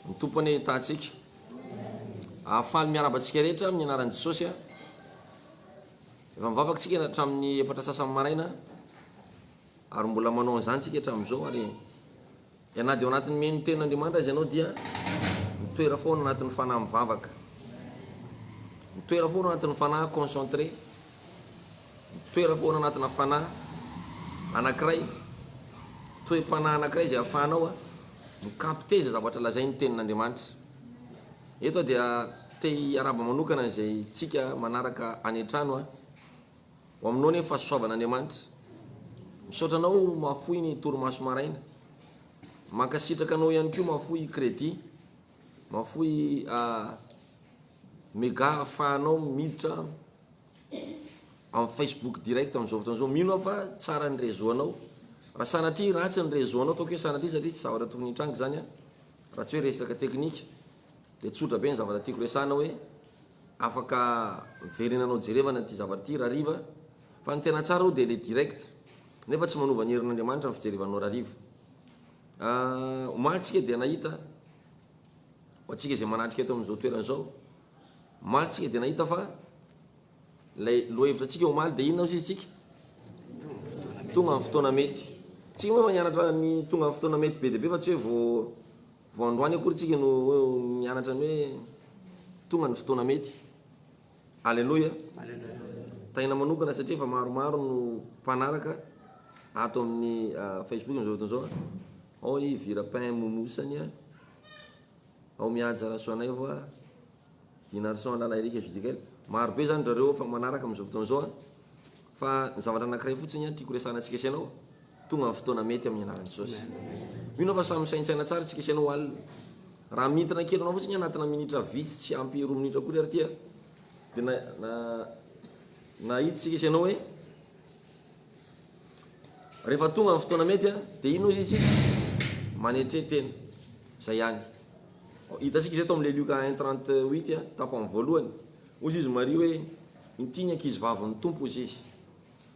Ny Tompo anie hitahantsika. Ah, faly miarahaba antsika rehetra amin'ny anaran'i Jesosy. Ah. Efa mivavaka tsika hatramin'ny efatra sasany maraina ary mbola manao an'izany tsika hatramin'izao ary ianady ao anatin'ny meno tena Andriamanitra azy ianao dia mitoera foana anatin'ny fanahy mivavaka. Mitoera foana anatin'ny fanahy concentré. Mitoetra foana anatina fanahy anankiray, toe-panahy anankiray izay ahafahanao mi-capter izay zavatra lazain'ny Tenin'Andriamanitra. Eto aho dia te hiarahaba manokana an'izay tsika manaraka any an-trano aho. Ho aminao anie ny fahasoavan'Andriamanitra. Misaotra anao Mahafoy ny torimaso maraina. Mankasitraka anao ihany koa Mahafoy Crédit, Mahafoy Mega ahafahanao miditra amin'ny Facebook direct amin'izao fotoana izao. Mino aho fa tsara ny réseau anao. Raha sanatria ratsy ny réseau anao, ataoko hoe sanatria satria tsy zavatra tokony hitranga izany an, raha tsy hoe resaka teknika, dia tsotra be ny zavatra tiako resahana hoe afaka miverina anao jerevana ity zavatra ity rahariva fa ny tena tsara aloha dia ilay direct nefa tsy manova ny herin'Andriamanitra ny fijerivanao rahariva. Omaly tsika dia nahita ho antsika izay manatrika eto amin'izao toerana izao. Omaly tsika dia nahita fa ilay lohahevitra tsika omaly dia inona ozy izy tsika? Tonga amin'ny fotoana mety. Tsika moa efa nianatra ny tonga amin'ny fotoana mety be dia be fa tsy hoe vao vao androany akory tsika no hoe nianatra ny hoe tonga ny fotoana mety. Aleloia. Taina manokana satria efa maromaro no mpanaraka ato amin'ny ah, Facebook amin'izao fotoana izao. Ao i Vira Pain Momosany a. Ao mihaja rasoanay vo a Dinarison a lala Eric Judicael maro be zany drareo efa manaraka amizao fotoana zao a fa ny zavatra anakiray fotsiny a tiako resahana tsika sy anao tonga ny fotoana mety aminy anaran'i Jesosy mino aho fa samy misaintsaina tsara tsika sy anao alina raha mintina kely anao fotsiny anatina minitra vitsy tsy ampy roa minitra akory ary tia de na na nahita tsika sy anao hoe Rehefa tonga ny fotoana mety a, dia iny ozy isika manetre tena, zay ihany. Hitantsika izay tao amin'ilay Lioka un trente huit a, tapany voalohany. Ozy izy Maria hoe, inty ny ankizy vavin'ny Tompo ozy izy.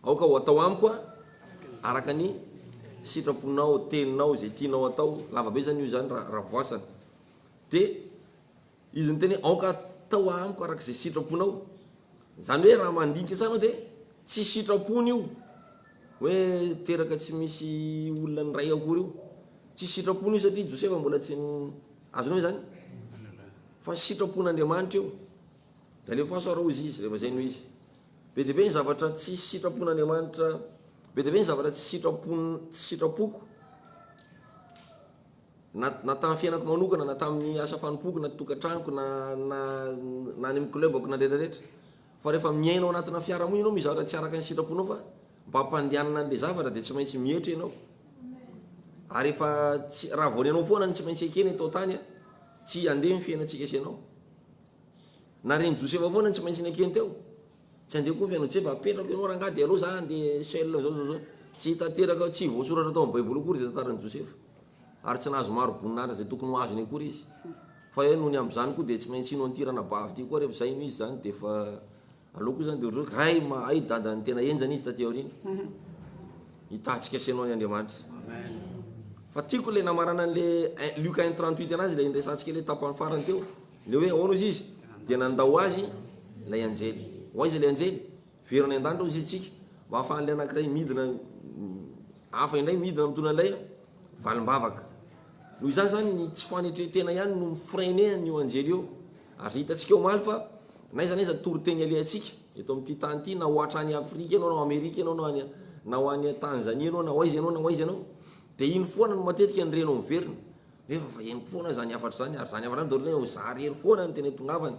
Aoka ho atao amiko a, araka ny sitraponao, teninao, izay tianao atao, lavabe izany io izany raha voasana. Dia. Izy niteny, Aoka hatao amiko araka izay sitraponao. Izany hoe raha mandinika tsara aho dia tsy sitrapony io hoe teraka tsy misy olona niray akory io. Tsy sitrapony io satria Josefa mbola tsy ny, azonao izany? Fa sitrapon'Andriamanitra io. Dia alefaso ary hozy izy, rehefa izay no izy. Be dia be ny zavatra tsy sitrapon'Andriamanitra, be dia be ny zavatra tsy sitrapon, tsy sitrapoko. Na na tamin'ny fiainako manokana, na tamin'ny asa fanompoako, na tokantranoko, na na na any amin'ny club-ko, na rehetra rehetra. Fa rehefa miaina ao anatina fiarahamonina ianao misy zavatra tsy araka ny sitraponao fa mba hampandehanana an'ilay zavatra dia tsy maintsy mietra ianao. Ary efa tsy raha vao ny anao foana no tsy maintsy ekena eto an-tany a, tsy handeha ny fiainantsika sy ianao. Na ren'i Josefa foana no tsy maintsy nekeny teo. Tsy andeha akory ve ianao Jeff? Apetrako ianao rangahy dia aleo za andeha seul zao zao zao. Tsy tanteraka, tsy voasoratra tao amin'ny Baiboly akory izay tantaran'i Josefa. Ary tsy nahazo maro boninahitra izay tokony ho azony akory izy. Fa eh, nony amin'izany koa dia tsy maintsy hino an'ity ranabavy ity koa ary efa izay hino izy izany dia efa aleo koa izany dia ohatr'izao hoe hay ma, hay dadan'ny tena henjana izy taty aoriana. Hitantsika sy ianao ny Andriamanitra. Fa tiako ilay namarana an'ilay Luc un trente huit anazy ilay niresahantsika ilay tapany farany teo. Ilay hoe ahoana hozy izy dia nandao azy ilay anjely. Ho aiza ilay anjely? Very any an-danitra hozy izy tsika mba hahafahan'ilay anankiray midina hafa indray midina mitondra ilay valim-bavaka. Noho izany izany ny tsy fanetren-tena ihany no mi-freiner an'io anjely io. Ary hitantsika eo omaly fa n'aiza n'aiza toriteny alehantsika eto amin'ity tany ity na ho hatrany Afrika ianao na ho Amerika ianao na any na ho any Tanzania ianao na ho aiza ianao na ho aiza ianao dia iny foana no matetika ny reno miverina. Nefa efa henoko foana zany hafatra zany ary zany hafatra zany daholo hoe zary ery foana no tena itongavany.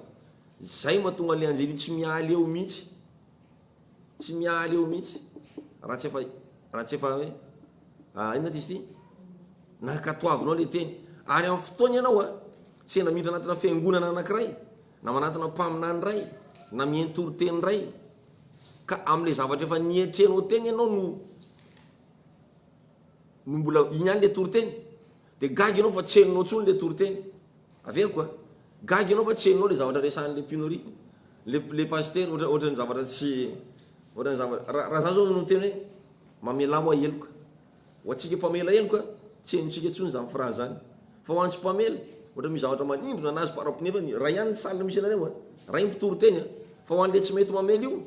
Zay mahatonga le anjely io tsy mialy eo mihitsy. Tsy mialy eo mihitsy. Raha tsy efa raha tsy efa hoe a inona ty izy ty? Nankatoavinao le teny. Ary amin'ny fotoana ianao a, sendra miditra anatina fiangonana anankiray, na manatina mpaminany iray, na miheno toriteny iray, ka amin'le zavatra efa nietrenao teny ianao no no mbola iny ihany le toriteny de gaga ianao fa tsy henonao tsony le toriteny averiko a gaga ianao fa tsy henonao le zavatra resahan'le pinorie le le pasitera ohatra ohatran'ny zavatra tsy ohatran'ny zavatra raha raha za zao no miteny hoe mamelà hoa heloka ho antsika mpamela heloka tsy henontsika tsony zany phrase zany fa ho antsy mpamela ohatra misy zavatra manindrona anazy par rapport nefa ray ihany ny salle misy anareo a ray mpitory teny a fa ho an'le tsy mety mamela io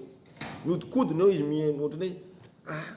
mihodinkodina eo izy miheno ohatran'ny hoe ah.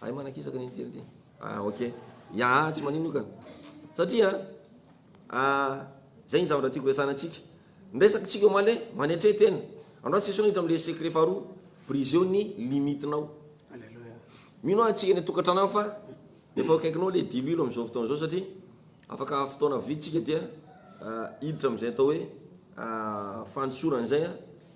Hay manakisaka ny intely ty. Ah ok. Ya ah tsy manino io ka. Satria ah zay ny zavatra tiako resahana antsika. Ny resaka tsika omaly hoe manetre tena. Andrao tsy esoina hiditra amle secret faharoa, briser-o ny limite nao. Aleloia. Mino ah tsika any an-tokatrano any fa efa eo akaikinao le diloilo amizao fotoana zao satria afaka fotoana vitsy tsika dia hiditra amizay atao hoe fanosorana zay ah.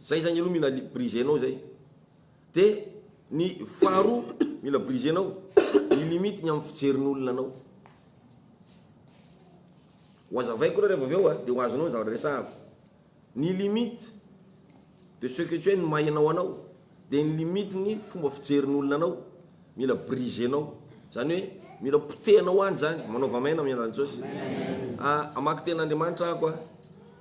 Zay zagny aloha mila brisenao zay de ny faharoa mila brisenao ny limite ny amin'ny fijerin'olona anao ho azavaiko aloha reva avy eo a de ho azonao ny zavatra resahako ny limite de ce que tu es ny maha enao anao de ny limite ny fomba fijerin'olona anao mila brisenao zany hoe mila potehanao any zany manaova maina amin'ny alalan'i Jesosy a hamaky tenin'Andriamanitra ako a.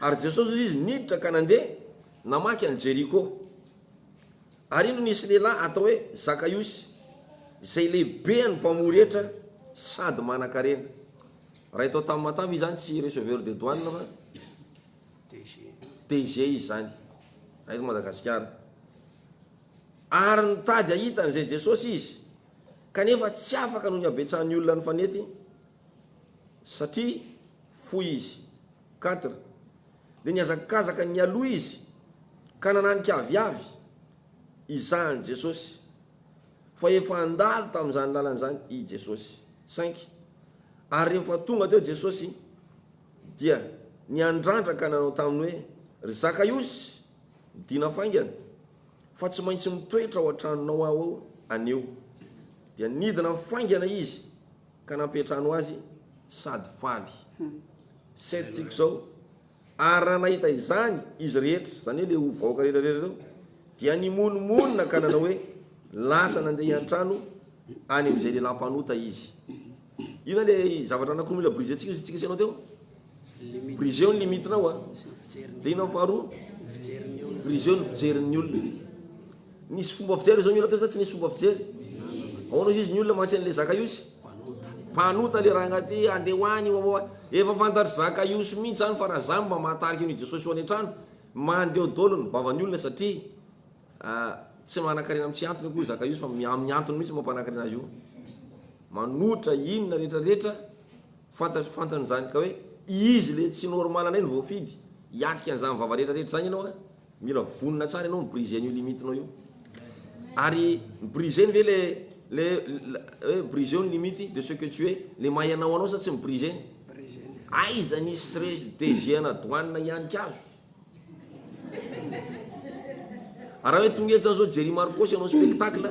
Ary Jesosy hoy izy, Niditra ka nandeha namaky an'i Jeriko. Ary indro nisy lehilahy atao hoe Zakaiosy, izay lehibean'ny mpamory hetra sady manankarena. Raha eto Tamatave izany tsy receveur de douane fa DG izy izany, raha eto Madagasikara. Ary nitady hahita an'izay Jesosy izy, kanefa tsy afaka noho ny habetsahan'ny olona nifanety. satria fohy izy. Khadr. Dia nihazakazaka nialoha izy ka nananika avy avy izany Jesosy, fa efa handalo tamin'izany lalana izany i Jesosy. Cinq. Ary rehefa tonga teo Jesosy dia niandrandra ka nanao taminy hoe, Ry Zakaiosy, midina faingana, fa tsy maintsy mitoetra ao an-tranonao aho anio. Dia nidina faingana izy ka nampiantrano azy sady faly sept tsika izao ary raha nahita izany izy rehetra izany hoe le o vahoaka rehetra rehetra zao dia nimonomonona ka nanao hoe lasa nandeha hiantrano any amin'izay lehilahy mpanota izy io zany le zavatra anakoa mila brise tsika izy tsika senao teo brise eo ny limitinao a dia inao faharoa brise eo ny fijerin'ny olona Nisy fomba fijery izao ny olona teo sa tsy nisy fomba fijery? Ahoana ozy izy ny olona mantsy an'le Zakaiosy? Mpanota le ranga ty andeha ho any wawawa. Efa fantatr'i Zakaiosy mintsy zany fa raha zany mba mahatarika an'io Jesosy io any an-trano. Mandeho dolo ny vavan'ny olona satria ah tsy manan-karena amin'ny tsy antony akory i Zakaiosy fa amin'ny antony mintsy mampanan-karena azy io. Manotra inona rehetra rehetra fantatry fantany zany ka hoe izy le tsy normal ndray no voafidy hiatrika an'zany vava rehetra rehetra zany ianao a. Mila vonona tsara ianao mi-briser an'io limite-nao io. Ary briser-ny ve le le hoe briser-o ny limite de ce que tu es, le maha ianao anao sa tsy mi-briser-ny? Aiza misy tsy re DG ana douane hianika azo? Raha hoe tonga eto zany zao Jerry Marcos hanao spectacle,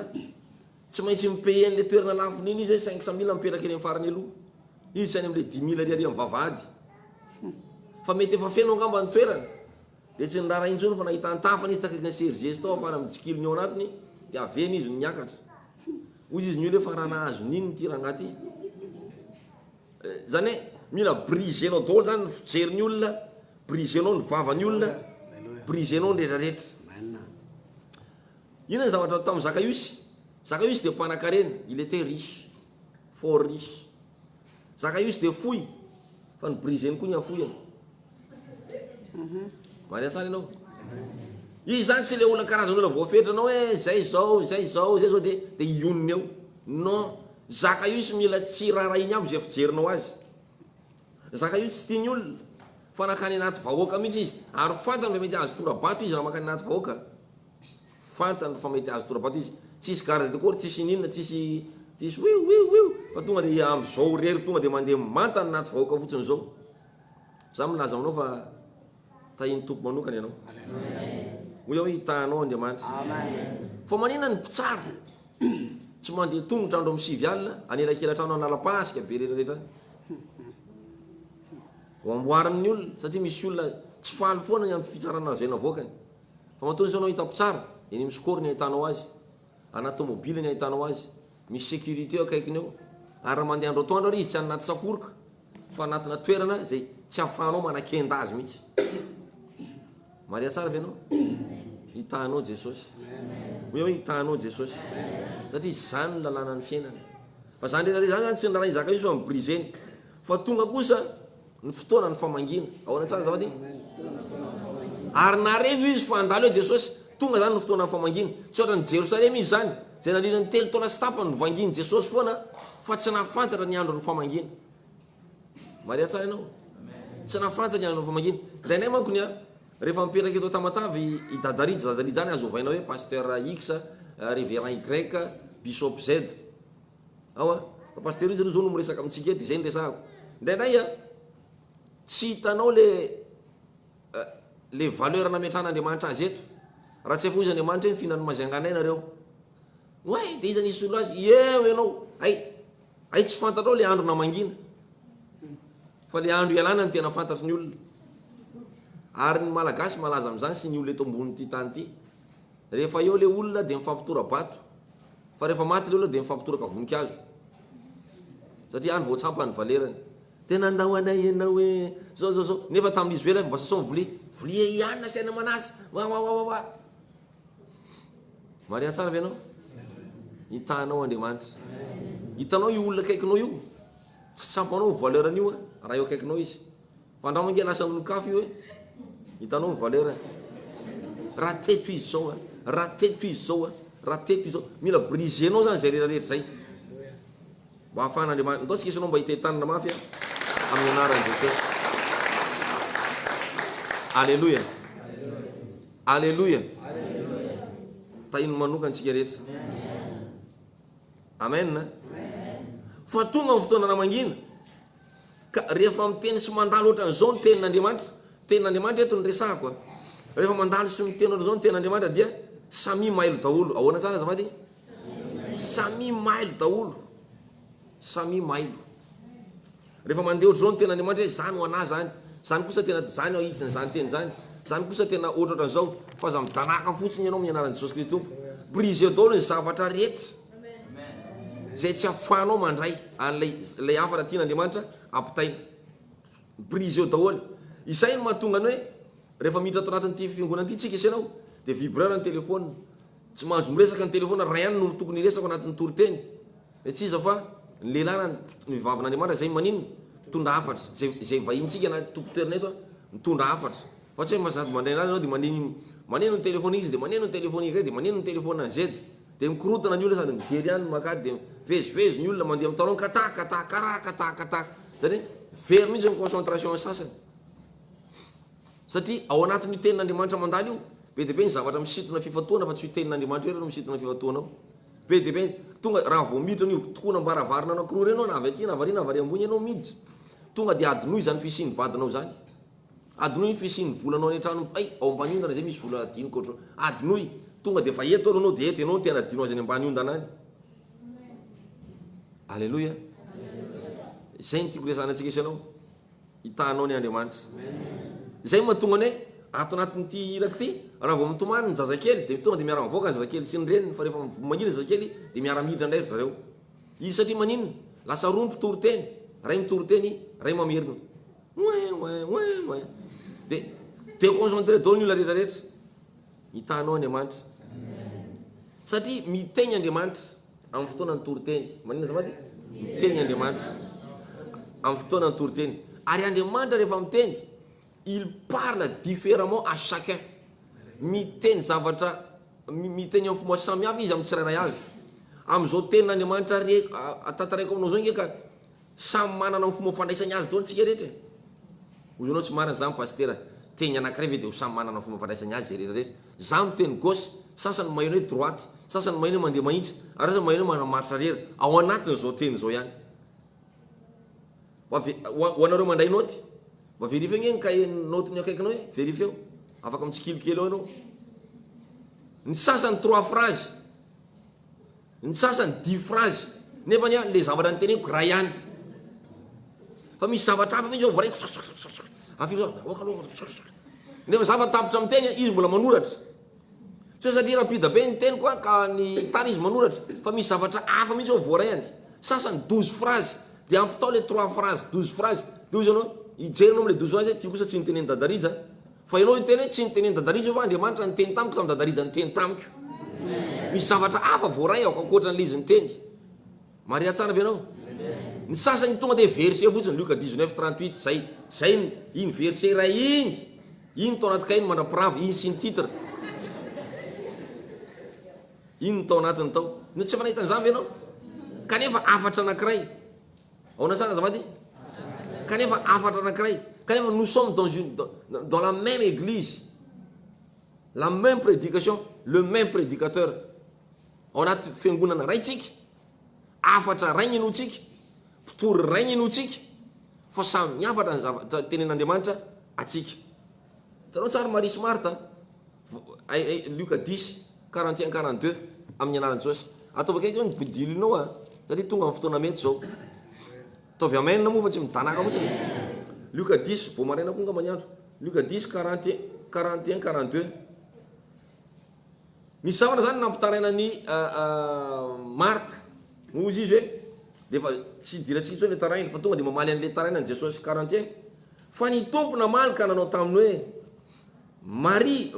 tsy maintsy mi-payer an'le toerana lafony iny izy hoe cinq cent mille mipetraka eny amin'ny farany aloha. Izy tsy any amin'le dix mille ariary amin'ny vavahady. Fa mety efa feno angamba ny toerana. Dia tsy niraharaha intsony fa nahita an-tafany izy takaiky ny serges tao afara mitsikilo ny ao anatiny dia avy eny izy no niakatra. Hoy izy ny olona hoe fa raha nahazo n'inn ity rangahy ity? Izany hoe mila briser-nao daholo izany ny fijery ny olona, briser-nao ny vava ny olona, briser-nao ny rehetra rehetra. Inona ny zavatra nataon'i Zakaiosy? Zakaiosy dia mpanan-karena, il était riche. Fort Riche. Zaka used dia fohy fa ny briseny koa ny afohany. Marina tsara ianao. Izy zany tsy le olona karazana olona voafetra anao hoe zay zao, zay zao, zay zao de de hionona eo. Non, zaka io tsy mila tsy raharahiany aby zay fijerinao azy. Zaka io tsy tiany olona fa nankany anaty vahoaka mihitsy izy ary fantany fa mety azo tora-bato izy raha mankany anaty vahoaka. Fantany fa mety hahazo tora-bato izy. Tsisy garde de corps, tsisy ininona, tsisy tsisy wiou wiou wiou fa tonga dia amin'izao irery tonga dia mandeha manta anaty vahoaka fotsiny izao. Izaho milaza aminao fa tahin'ny Tompo manokana ianao. Hoy aho hoe hitahy anao Andriamanitra. Fa manina ny mpitsara tsy mandeha tongotra andro amin'ny sivy alina anelakelan-trano analam-pasika be retraretra any. Ho amboarin'ny olona satria misy olona tsy faly foana ny amin'ny fitsarana azo ianavaokany. Ramatoa izao no hitako tsara, eny amin'ny score ny ahitanao azy, anaty tomobila ny ahitanao azy, misy sécurité eo akaikiny eo, ary raha mandeha andro atoandro ary izy tsy any anaty sakoroka fa anatina toerana izay tsy ahafahanao manakenda azy mihitsy. Maria tsara ve ianao? Hitahinao Jesosy. Hoy aho hoe hitahinao Jesosy. Satria izany ny lalànan'ny fiainana. Fa izany rehetra izany izany tsy ny lalàna izaka io fa mibriseny. Fa tonga kosa Ny fotoanan'ny famangiana. Ahoana tsara izao anie? Ary naharevo izy fa handalo eo Jesosy. Tonga izany ny fotoanan'ny famangiana. Tsy ohatran'i Jerosalema izy izany, izay nandritra ny telo taona sy tapany novangian'i Jesosy foana fa tsy nahafantatra ny andron'ny famangiana. Maria tsara ianao? Tsy nahafantatra ny andron'ny famangiana. Indraindray manko ny a, rehefa mipetraka eto Tamatave i Dada Rija, Dada Rija izany azo ovaina hoe Pasteur X, Révérend Y, Bishop Z. Aoa fa pasteur izy aloha zao no miresaka amintsika eto izay no resahako. Indraindray a tsy hitanao le le valeur nametran'Andriamanitra azy eto. Raha tsy afoiza Andriamanitra hoe mifihinan'ny mazianganay nareo. Oay de iza no hisolo azy? Eo ianao hay hay tsy fantatrao le andro namangina fa le andro ialana no tena fantatry ny olona. Ary ny malagasy malaza amin'izany sy ny olona eto ambonin'ity tany ity. Rehefa eo le olona de mifampitora-bato. Fa rehefa maty ny olona dia mifampitoraka voninkazo satria any vao tsapa ny valerany. Dia nandao anay ianao hoe zao zao zao nefa tamin'izy ivelany mba sasao ny vilia. Vilia ihany nasiana manasy. Wawawawawa. Maria tsara ve ianao? Hitanao Andriamanitra. Hitanao io olona akaikinao io. Tsy tsapanao ny valerany io raha eo akaikinao izy. Fandrao ange lasa olon-kafa io e! Hitanao ny valeur e! Raha teto izy zao e! Raha teto izy zao e! Raha teto izy zao! Mila briser-nao zany zay rehetra rehetra zay mba ahafahan'Andriamanitra. Ndao tsika isanao mba hitentanina mafy e! Amin'ny anaran'i Jesosy. Alléluia! Alléluia! Tahiny manokana antsika rehetra. Amen! Fa tonga ny fotoana namangina. Ka rehefa miteny sy mandalo ohatran'izao ny tenin'Andriamanitra, ny tenin'Andriamanitra eto no resahako a, rehefa mandalo sy miteny ohatran'izao ny tenin'Andriamanitra dia samia mailo daholo. Ahoana tsara azafady? Samia mailo daholo. Samia mailo. Rehefa mandeha ohatran'izao ny tenin'Andriamanitra hoe izaho no anà izany, izany kosa tena tsy izany aho hitsiny izany teny izany, izany kosa tena ohatrohatran'izao fa aza midanàka fotsiny ianao amin'ny anaran'i Jesosy Kristy Tompo. Brisez daholo ny zavatra rehetra. Izay tsy afahanao mandray an'ilay ilay havana tian'Andriamanitra ampitaina. Briseo daholo. Izay no mahatonga ny hoe rehefa miditra ato anatin'ity fiangonana ity tsika sy ianao dia vibreur ny téléphone. Tsy mahazo miresaka ny téléphone raha ihany no tokony hiresaka ao anatin'ny toriteny. Dia tsy iza fa ny lehilahy na ny vavin'Andriamanitra izay maninona? Mitondra hafatra. Izay izay vahintsika na tompon-toerana eto a, mitondra hafatra. Fa tsy hoe sady mandray an'azy ianao dia maneno maneno ny téléphone iza dia maneno ny téléphone iray dia maneno ny téléphone an'izay dia. Dia mikorontana ny olona sady mijery ihany ny mankady dia mivezivezy ny olona mandeha mitalon kata kata kara kata kata izany hoe very mihitsy ny concentration ny sasany satria ao anatin'io tenin'Andriamanitra mandalo io be dia be ny zavatra misintona fifantohana fa tsy io tenin'Andriamanitra io re no misintona fifantohana ao be dia be tonga raha vao miditra an'io tokoana am-baravarana anankiroa ireny ianao na avy aty na avy ary na avy ary ambony ianao miditra tonga dia adinoy izany fisian'ny vadinao izany Adinoy ny fisian'ny volanao any an-trano Hay! ao ambany ondana izay misy vola adinoko ohatrao. Adinoy! Tonga dia efa eto aloha anao dia eto ianao no tena adino azy any ambany ondana any. Aleloia! Izay no tiako hiresahana antsika sy ianao. Hitahanao ny Andriamanitra. Izay no mahatonga anay ato anatin'ity iraka ity. Raha vao mitomany ny zazakely dia tonga dia miara-mivoaka ny zazakely sy ny reniny fa rehefa mangina ny zazakely dia miara-miditra indray ry zareo. Izy satria maninona? Lasa roa ny mpitoriteny, iray mitoriteny, iray mamerina. Ouin ouin ouin ouin de deconcentre daholo ny olona rehetra rehetra mitana anao Andriamanitra satria miteny Andriamanitra amin'ny fotoanan'ny toriteny manina azafady miteny Andriamanitra amin'ny fotoanan'ny toriteny ary Andriamanitra rehefa miteny il parle différemment à chacun miteny zavatra miteny amin'ny fomba samihafa izy amin'ny tsirairay avy amin'izao tenin'Andriamanitra re tantaraiko aminao izao nge ka Samy manana ny fomba fandraisany azy daholo tsika rehetra e! Hoy ianao tsy marina zany Pasitera, teny anakiray ve dia ho samy manana ny fomba fandraisany azy zerera rehetra? Za miteny gauche, sasany maheno hoe droite, sasany maheno hoe mandeha mahitsy, ary sasany maheno hoe manao marche arrière, ao anatin zao teny zao ihany. Mba ve, ho anareo mandray naoty, mba verifieo ange ny kahie naotin'ny akaikinao e, verifieo, afaka mitsikilo kely ao ianao. Ny sasany trois phrases. Ny sasany dihy phrase nefa anie le zavatra noteneniko ray ihany fa misy zavatra hafa mihitsy zao voaraiko avy eo za aoka nefa za fa tapitra miteny a izy mbola manoratra tsy hoe satria rapida be ny teniko a ka ny tara izy manoratra fa misy zavatra hafa mihitsy zao voaraihany sasany douze phrase de ampitao le trois phrase douze phrase de hoy izy anao hijery anao amle douze phrase ty kosa tsy notenenin'i dada rija Fa ianao hiteny hoe tsy nitenen'i Dadarizo fa Andriamanitra niteny tamiko tamin'i Dadarizo niteny tamiko. Misy zavatra hafa voaray aho ankoatra an'ilay izy niteny. Mariha tsara ve ianao? Ny sasany tonga dia verset fotsiny Luc 19, 38 zay, zay ny, iny verset iray iny, iny tao anaty kahiny mandrapirava, iny signe titre. Iny ny tao anatiny tao. No tsy efa nahita an'izany ve ianao? Kanefa hafatra anankiray. Aona tsara azafady? Kanefa hafatra anakiray, kanefa nous sommes dans une dans la même église. La même prédication, le même prédicateur. Ao anaty fiangonana ray tsika. Hafatra ray ny inoantsika. Mpitory ray ny inoantsika. Fa samy hafatra ny zavatra tenenin'Andriamanitra atsika. Hitanao tsara Maria sy Marta a? Lioka dix, quarante et un, quarante deux, amin'ny anaran'i Jesosy. Ataovy akaiky eo ny bodilinao a! Satria tonga amin'ny fotoana mety izao. Ataovy amen moa fa tsy midanàka fotsiny e! Lioka dix, vao maraina koa angamba ny andro. Lioka dix, quarante et un, quarante deux. Nisy zavatra izany nampitaraina an'i Marta. Hozy izy hoe, Dia efa tsy idirantsika intsony ilay taraina. Fa tonga dia mamaly an'ilay taraina an'i Jesosy, Quarantiens. Fa ny Tompo namaly ka nanao taminy hoe, Maria,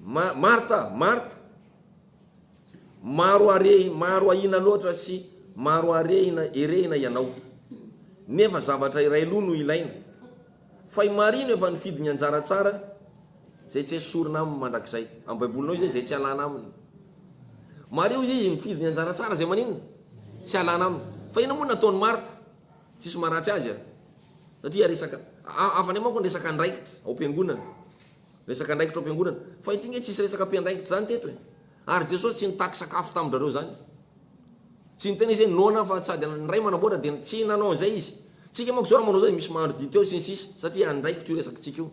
Ma, Marta, Marta, maro are, maro ahiana loatra sy maro arehina, erehina ianao. Nefa zavatra iray loha no ilaina. Fay marino efa nifidy ny anjara tsara zay tsy esorina aminy mandrakizay. Am baibolinao izay zay tsy alana aminy. Mariho izy izy mifidy ny anjara tsara zay maninona? Tsy alana aminy. Fa inona moa nataony Martha? Tsisy maharatsy azy a! Satria resaka hafa ndray manko ny resaka andraikitra ao am-piangonana. Resaka andraikitra ao am-piangonana. Fa ity nge tsisy resaka mpiandraikitra zany teto e! Ary Jesosy tsy nitaky sakafo tamin-drareo zany. Tsy niteny izy hoe noana fa sady ny Ray manamboatra dia tsy nanao an'izay Izy. Tsika manko izao raha manao izao dia misy mahandro dite eo sy ny sisa satria andraikitro io resakitsika io.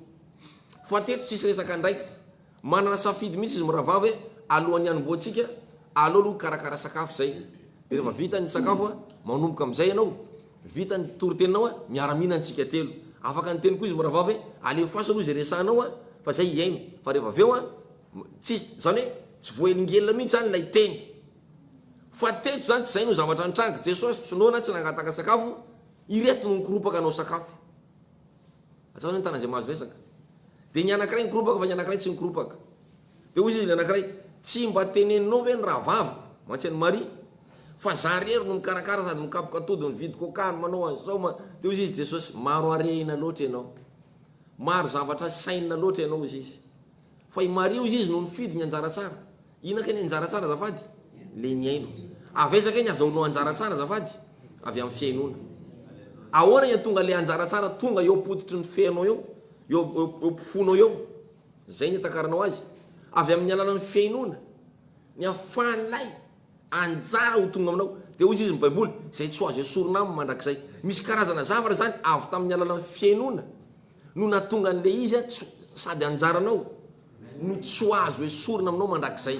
Fa teto tsisy resaka andraikitra. Manana safidy mihitsy izy mirahavavy hoe alohan'ny hanombohantsika aleo aloha hikarakara sakafo izay. Dia rehefa vita ny sakafo manomboka amin'izay ianao, vita ny toriteninao miara-mihinana tsika telo. Afaka niteny koa izy mirahavavy hoe alefaso aloha izay resahanao fa izay hihaino. Fa rehefa avy eo. Tsy, izany hoe, tsy voahelingelina mihitsy izany ilay Teny. Fa teto izany tsy izay no zavatra nitranga. Jesosy tsy noana, tsy nangataka sakafo, ireto no nikoropaka hanao sakafo. Atsahao izany tana izay mahazo resaka. Dia ny anankiray nikoropaka fa ny anankiray tsy nikoropaka. Dia hoy izy ny anankiray, Tsy mba teneninao ve ny rahavaviko, mantsy an'i Maria, fa izaho irery no mikarakara sady mikapoka atody, mividy coca ary manao an'izao, ma-. Dia hoy izy Jesosy, Maro harena loatra ianao. Maro zavatra sainina loatra ianao, hoy izy. Fa i Maria hozy izy no nifidy ny anjara tsara. Inona kay ny anjara tsara azafady? Le nihaino. Avy aiza kay ny azahoanao anjara tsara azafady? Avy amin'ny fihainoana. Ahoana ny hahatonga ilay anjara tsara tonga eo am-pototry ny fenao eo, eo eo eo am-ponao eo? Zay ny hitakaranao azy. Avy amin'ny alalan'ny fihainoana. Ny ahafahan'ilay anjara ho tonga aminao. Dia hozy izy ny baiboly, izay tsy ho azo esorina aminy mandrakizay. Misy karazana zavatra izany avy tamin'ny alalan'ny fihainoana. no nahatonga an'ilay izy aho tsy sady anjaranao no tsy ho azo esorina aminao mandrakizay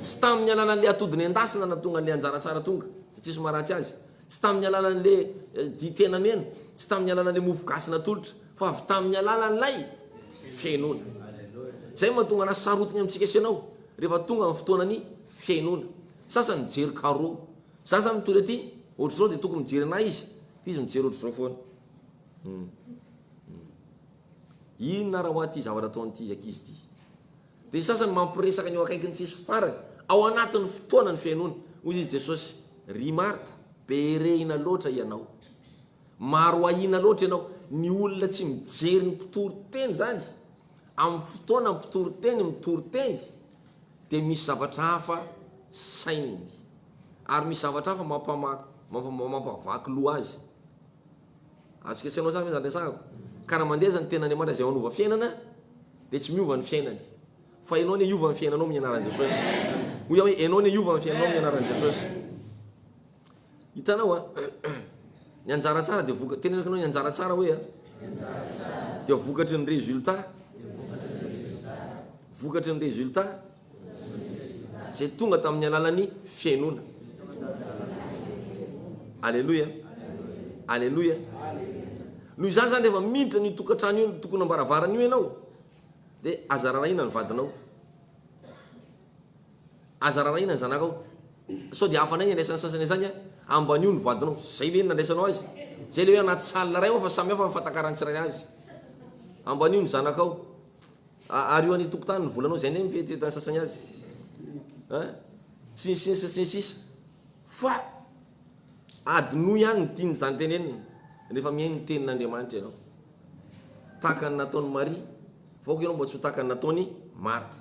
tsy tamin'ny alalan'ilay atody nendasina nahatonga an'ilay anjara tsara tonga dia tsisy maharatsy azy tsy tamin'ny alalan'ilay eh, ditena mena tsy tamin'ny alalan'ilay mofo gasy natolotra fa avy tamin'ny alalan'ilay fihainoana izay mahatonga anazy sarotiny amintsika sy ianao rehefa tonga amin'ny fotoana ny fihainoana sasany mijery karo za za mitory aty ohatr'izao dia tokony mijery anay izy izy mijery ohatr'izao foana Inona ara hoa ty zavatra ataon'ity ankizy ty. Dia ny sasany mampiresaka ny eo akaikiny tsisy farany, ao anatin'ny fotoana ny fihainoany. Hoy izy Jesosy, Ry Marta, be rehina loatra ianao. Maro ahiana loatra ianao. Ny olona tsy mijery ny mpitory teny izany, amin'ny fotoana ny mpitory teny mitory teny, dia misy zavatra hafa saininy. Ary misy zavatra hafa mampama, mampama, mampavaky loha azy. Azo ketsenao zany ve zany resahako? Ka raha mandeha zany tenan'Andriamanitra izay manova fiainana dia tsy miova ny fiainany. Fa enao anie hiova ny fiainanao amin'ny anaran'i Jesosy. Hoy aho hoe enao anie hiova ny fiainanao amin'ny anaran'i Jesosy. Hitanao a? Ny anjara tsara dia voka tenenako anao ny anjara tsara hoe a? Dia vokatry ny résultat. Vokatry ny résultat. Izay tonga tamin'ny alalan'ny fihainoana. Aleloia! Aleloia! Noho izany izany rehefa miditra an'io tokantrano io, tokonam-baravarana io ianao, dia aza rarahina ny vadinao. Aza rarahina ny zanakao. Sao dia hafanay ny andraisan'ny sasany izany an, ambanio ny vadinao. Izay ilay nandraisanao azy. Izay ilay hoe anaty salle iray ao fa samihafa ny fatakaran'ny tsirairay azy. Ambanio ny zanakao. Ario any tokontany ny volanao zay anie mety hitany sasany azy a! sy ny sisa sy ny sisa fa adinoy ihany ny tiany zany tenenina rehefa mihaino ny tenin' Andriamanitra ianao tahaka ny nataony Maria fa ok ianao mba tsy ho tahaka ny nataony Martha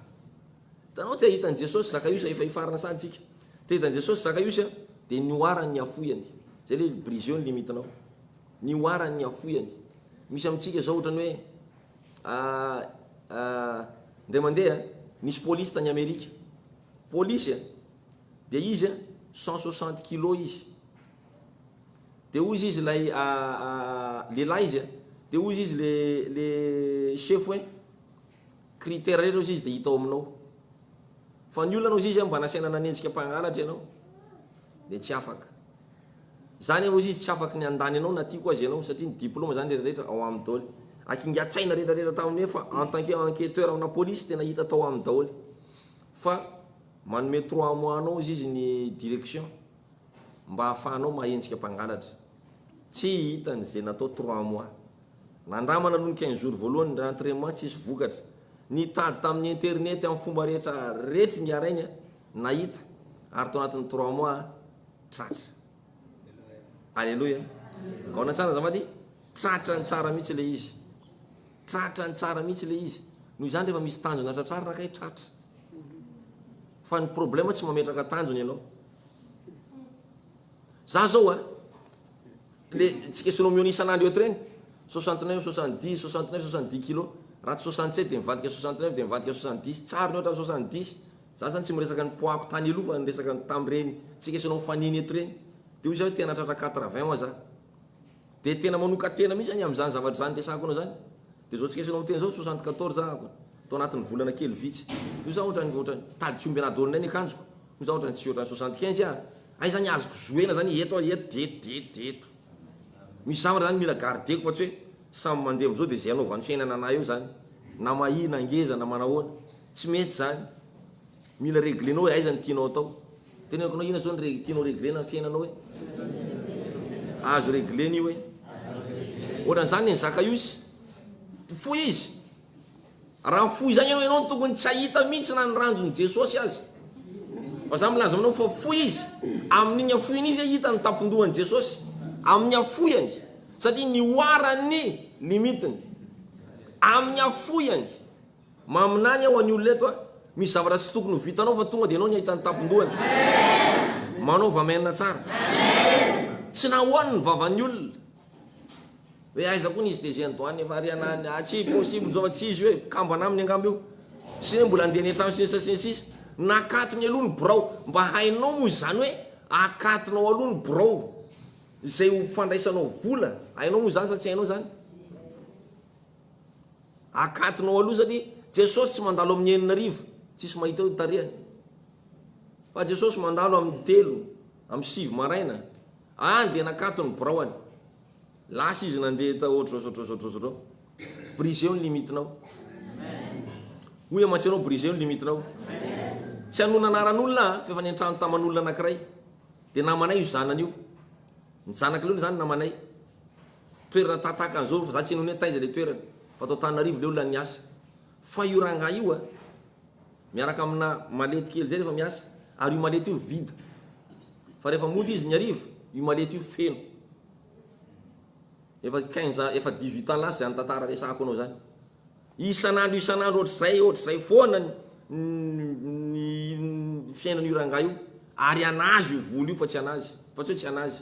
tanao te hahita an'i Jesosy Zakaiosy efa hifarana saha antsika te hahita an'i Jesosy Zakaiosy a dia nihoarany ny hafoiany zay le briseo ny limitinao nihoarany ny hafoiany misy amintsika zao ohatrany hoe Ah ah indray mandeha nisy polisy tany Amerika polisy a dia izy a cent soixante kilos izy dia hozy izy ilay lehilahy izy a dia hozy izy le le sefo hoe critère ireo izy dia hita ao aminao fa ny olona hozy izy a mba nasaina nanenjika mpangalatra ianao dia tsy afaka. Zany aho izy tsy afaky ny andany anao na tiako aza ianao satria ny diploma zany rehetra rehetra ao aminy daoly ary kinga tsaina rehetra rehetra tao aminy fa en tant que enqueteur amina police tena hita tao aminy daoly fa manome trois mois anao izy izy ny direction mba afahanao mahenjika mpangalatra tsy hitany ze natao trois mois nandramana aloha ny quinze jours voalohany ny rentrement tsisy vokatra nitady taminy internet aminy fomba rehetra rehetra ingahy rainy a nahita ary tao anatiny trois mois Tratra. Aleloia. Aona tsara azafady? Tratra ny tsara mihitsy ilay izy. Tratra ny tsara mihitsy ilay izy. Noho izany rehefa misy tanjona tratrarina kay tratra. Fa ny problème tsy mametraka tanjona ianao. Za zao a, le tsika sonomiony isan'andro eto reny, 69, 70, 69, 70 kilos, raha tsy 67 dia mivadika 69 dia mivadika 70, tsariny ohatran'ny 70. Za zany tsy miresaka ny poids-ko tany aloha fa ny resaka ny tam reny tsika esoina ho fanina eto reny de hoy za hoe tena tratra quatre vingt wa za de tena manoka tena mihitsy zany amzany zavatra zany resako anao zany de zao tsika esoina miteny zao soixante quatorze ahako tao anatiny volana kely vitsy de hoy za otrany otrany tady tsy omby anah daholo indray ny akanjoko hoy za otrany tsy otrany soixante quinze ah hay zany azoko jouena zany eto ah eto de eto de eto de eto misy zavatra zany mila gardeko fa tsy hoe samy mande amzao de ze anaovany fiainana anah eo zany na mahia na ngeza na manahoana Tsy mety izany. Mila reglenao hoe aiza ny tianao atao. Teneniko anao inona izao ny re- tianao reglena ny fiainanao hoe. Azo reglena io hoe. Ohatran'izany ny Zakaios. Fohy izy. Raha fohy izany ianao, ianao no tokony tsy hahita mihitsy na ny ranjon'i Jesosy aza. Fa za milaza aminao fa fohy izy. Amin'iny hafohiny izy hahita ny tampon-dohan'i Jesosy. Amin'ny hafohany. Satria nihoaran'ny limitiny. Amin'ny hafohany. Maminany aho anio leto a! Misy zavatra tsy tokony ho vitanao fa tonga dia ianao ny hahita ny tampon-dohany. Manaova amen tsara. Tsy nahoany ny vavan'ny olona hoe aiza koa ny izy tezeny doany efa ary anany ah tsy possible zao fa tsy izy io e, kambana aminy angamba io. Sy hoe mbola andeha any an-trano sy ny sisa sy ny sisa. Nakatony aloha ny birao. Mba hainao moa izany hoe akatonao aloha ny birao izay ho fandraisanao vola. Hainao moa izany sa tsy hainao izany? Akatonao aloha satria Jesosy tsy mandalo amin'ny enina arivo tsisy mahita eo ny tarehany fa Jesosy mandalo amin'ny telo amby sivy maraina any dia nakato ny biraoany lasa izy nandeha tao ohatr'izao zao ohatr'izao zao ohatr'izao zao briseo ny limitinao hoy aho mantsy ianao briseo ny limitinao tsy hanona anaran'olona aho fa efa nentrano taman'olona anankiray dia namanay io zanany io ny zanak'ilay olona izany namanay Toerana tataka anzao fa za tsy hainao ne taiza le toerana fa tao Tananarivo leo lany niasa fa io rangahy io a miaraka amina malety kely zay refa miasa ary io malety io vide fa refa mody izy ny hariva io malety io feno efa quinze ans efa dix huit ans lasa zany tantara resahako anao zany isan'andro isan'andro ohatr'izay ohatr'izay foana ny fiainan'io rangahy io ary anazy io vola io fa tsy anazy fa tsy hoe tsy anazy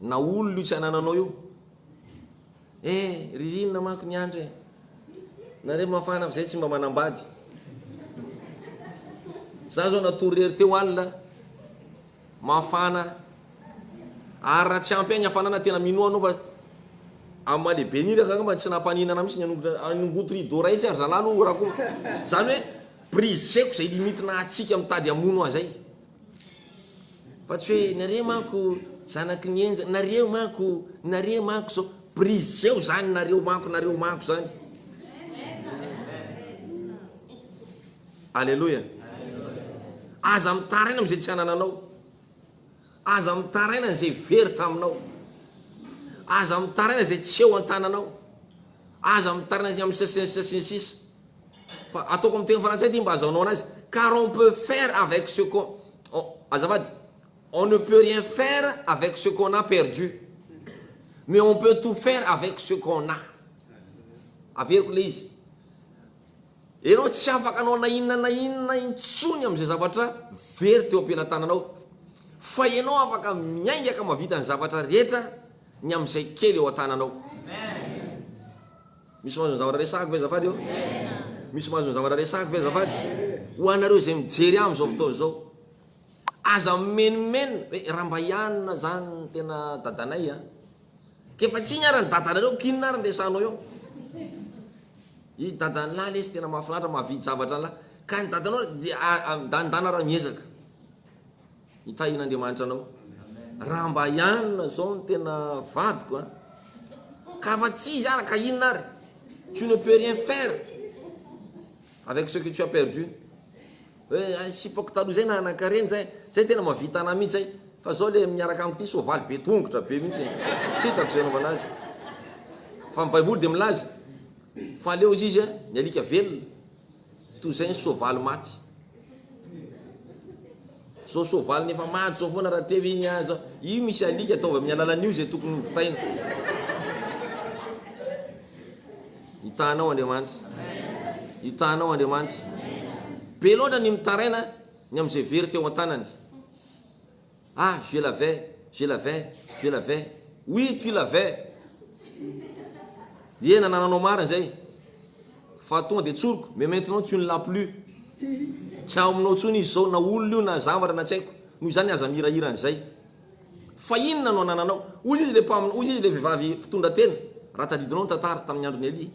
Na olona io tsy anananao io. Eh ririnina manko ny andro eh. Nareo mafana fa zay tsy mba manambady. Za zao natory rery teo alina. Mafana. Ary raha tsy ampy ahy ny hafanana tena minoa anao fa amin'ny maha lehibeny iny angamba tsy nampaninana mihitsy ny hanongotra hanongoty rideau iray tsy ary zalahy aloha raha koa zany hoe briseko zay limite nahatsiaka mitady hamono ahy zay. Fa tsy hoe nareo manko zanaky ny henjana, nareo manko, nareo manko zao, briseho zany nareo manko, nareo manko zany. Aleloia. Aza mitaraina amin'izay tsy anananao. Aza mitaraina an'izay very taminao. Aza mitaraina izay tsy eo an-tananao. Aza mitaraina amin'ny sisa sy ny sisa sy ny sisa. Fa ataoko amin'ny teny frantsay ity mba azahoanao anazy, car on peut faire avec ce qu'on on azafady, on ne peut rien faire avec ce qu'on a perdu, mais on peut tout faire avec ce qu'on a. Averiko ilay izy, ianao tsy afaka hanao na inona na inona intsony amin'izay zavatra very teo am-pelatananao, fa ianao afaka miainga ka mahavita ny zavatra rehetra ny amin'izay kely eo an-tananao. Misy mahazo ny zavatra resahako ve azafady ô? Misy mahazo ny zavatra resahako ve azafady? Ho anareo izay mijery ahy amin'izao fotoana izao, aza mimenomenona hoe raha mba ianona izany no tena dadanay a! Efa tsy iny ary ny dadanareo, k'inona ary ny resahanao eo? I dadan'lah lesy tena mahafinaritra, mahavidy zavatra an'lah. Ka ny dadanao dia midanindana ary miezaka. Hitahiana Andriamanitra anao. Raha mba i Anna zao no tena vadiko a! Ka fa tsy izy ara ka inona ary? Tu ne peux rien faire avec ce que tu as perdu. Hoe ay sipako taloha zay nanan-karena zay, zay tena mahavita anah mihitsy zay. Fa zao le miaraka amiko ty soavaly be tongotra be mihitsy. Tsy hitako zay anaovana azy. Fa ny baiboly dia milaza fa aleo izy izy ny alika velona. Toy izay ny soavaly maty. Zao soavaly nefa maty zao foana raha teo iny aza. Io misy alika ataovy amin'ny alalan'io izay tokony ho vitaina. Hitanao Andriamanitra. Hitanao Andriamanitra. Be loatra ny mitaraina ny amin'izay very teo an-tanany. Ah je l'avais, je l'avais, je l'avais, oui tu l'avais Ye nanananao marina izay fa tonga dia tsoriko mais maintenant tu ne l'as plus Tsy ao aminao intsony izy izao na olona io na zavatra na tsy haiko Noho izany aza mihirahira an'izay fa inona no anananao Hoy izy ilay mpamina, hoy izy ilay vehivavy mpitondra tena raha tadidinao ny tantara tamin'ny andron'i Elia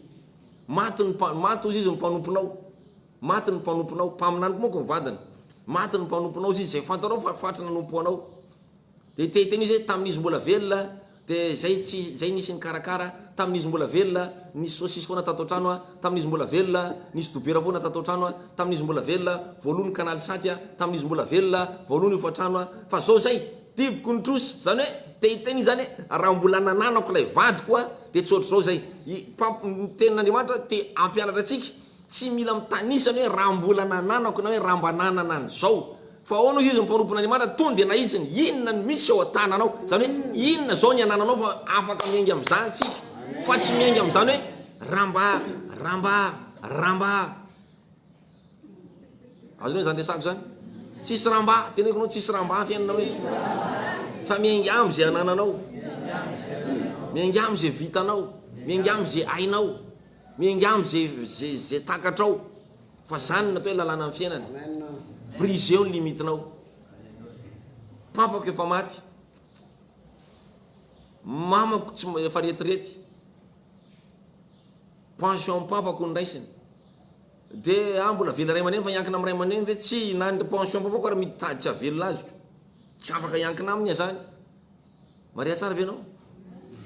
Maty ny, maty hoy izy ny mpanomponao, Maty ny mpanomponao, mpaminany manko ny vadiny, maty ny mpanomponao sy izay fantanao fa faty nanompo anao. Dia te hiteny izy hoe, tamin'izy mbola velona, dia izay tsy, izay nisy nikarakara, tamin'izy mbola velona, nisy saosisy foana tato an-trano an, tamin'izy mbola velona, nisy dobera foana tato an-trano an, tamin'izy mbola velona, vao lo ny kanaly saty an, tamin'izy mbola velona, vao lo ny hofantrano an, fa zao izay, diboko ny trosy, izany hoe, te hiteny izy izany hoe, raha mbola nananako ilay vadiko an, dia tsy ohatr'izao izay. I, Pam, ny Tenin'Andriamanitra te hampianatra antsika, Tsy mila mitanisa ny hoe raha mbola nananako na hoe raha mba nanana an'izao. Fa ahoana hozy izy ny mpanompo an'Andriamanitra? Tony dia nahitsiny, inona no misy ao an-tananao? Izany hoe inona izao ny anananao fa afaka miainga amin'izany tsika? Fa tsy miainga amin'izany hoe raha mba, raha mba, raha mba. Azonao izany resako izany? Tsisy raha mba, teneniko anao tsisy raha mba fiainana hoe. Fa miainga amin'izay anananao. Miainga amin'izay vitanao. Miainga amin'izay hainao. Miangavy ze ze ze takatrao fa zany natao hoe lalànan'ny fiainana. Briseo ny limitinao. Papako efa maty. Mamako tsy efa retirety. Pension papako noraisiny. De ah mbola vela ray aman-dreny fa hiankina amin'ny ray aman-dreny ve tsy na ny pension papako ary mitady tsy hahavelona azy ko. Tsy afaka hiankina aminy ah zany. Maria tsara ve anao?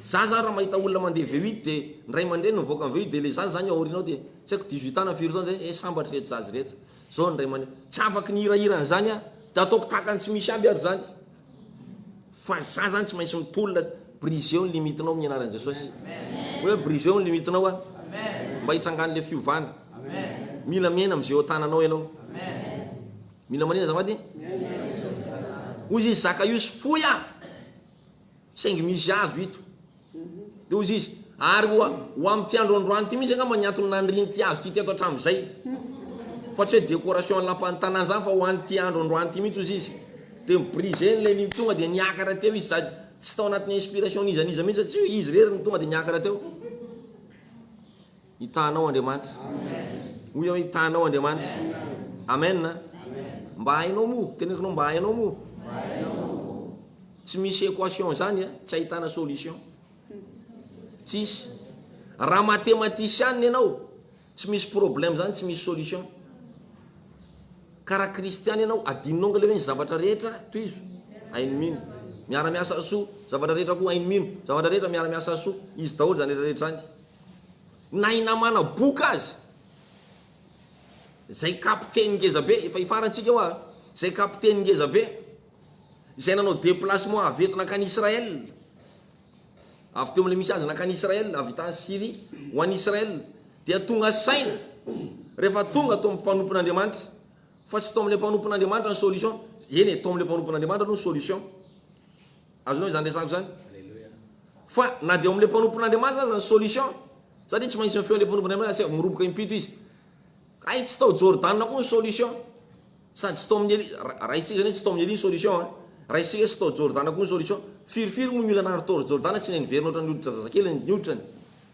Za zany raha mahita olona mandeha V8 dia ny ray aman-dreniny mivoaka ny V8 dia ilay zaza zany eo aoriana ao dia tsy haiko dix-huit ans na firy taona zay, eh sambatra ireto zaza ireto, zao ny ray aman-dreny. Tsy afaky ny hirahira an'izany aho dia ataoko tahaka ny tsy misy aby ary zany. Fa za zany tsy maintsy mitolona, briseo ny limitinao amin'ny anaran'i Jesosy. Hoe briseo ny limitinao a. Mba hitrangan'ilay fiovana. Mila miaina amin'izay eo an-tananao ianao. Mila manina azafady? Hoy izy, Zakaiosy, foy aho, saingy misy azo ito. Dia hoy izy, ary ho, ho amin'ity andro androany ity mihitsy angamba ny antony nanirian'ity azo ity teto hatramin'izay. Fa tsy hoe décoration lapan'ny tanàna izany fa ho an'ity andro androany ity mihitsy hoy izy. Dia mi-briser ilay ny tonga dia niakatra teo izy sady tsy tao anatin'ny inspiration n'iza n'iza mihitsy fa tsy hoe izy irery no tonga dia niakatra teo. Hitahanao Andriamanitra. Hoy aho hoe hitahanao Andriamanitra. Amen a. Mba hainao moa, teneniko anao mba hainao moa. Tsy misy equation zany a, tsy ahitana solution. Tsisy. Raha matematisianina ianao, tsy misy problème zany, tsy misy solution. Ka raha kristiana ianao, adinonao angaha le hoe ny zavatra rehetra tohizo, hainy mino. Miara-miasa soa, zavatra rehetra koa hainy mino. Zavatra rehetra miara-miasa soa, izy daholo zany rehetra rehetra zany. Na i Namana boka aza, izay kapiteny ngeza be, efa hifarantsika eo an, izay kapiteny ngeza be, izay nanao déplacement avy eto nankany Israël, avy teo amin'ilay misy azy nankany Israël, avy tany Syrie ho any Israël, dia tonga saina rehefa tonga tao amin'ny mpanompon'Andriamanitra, fa tsy tao amin'ilay mpanompon'Andriamanitra ny solution, eny e, tao amin'ilay mpanompon'Andriamanitra aloha ny solution. Azonao izany resako izany? Fa na dia ao amin'ilay mpanompon'Andriamanitra aza ny solution, satria tsy maintsy mifeho ilay mpanompon'Andriamanitra, asio miroboka impito izy. Hay tsy tao Jordana koa ny solution. Sady tsy tao amin'ny Elia, ra- raisitsika izany hoe tsy tao amin'ny Elia ny solution a. Raisitsika hoe tsy tao Jordana koa ny solution. Firifiry moa ny olona naharo tao Jordana tsy niverina ohatran'ny hoditra zazakely ny hoditrany.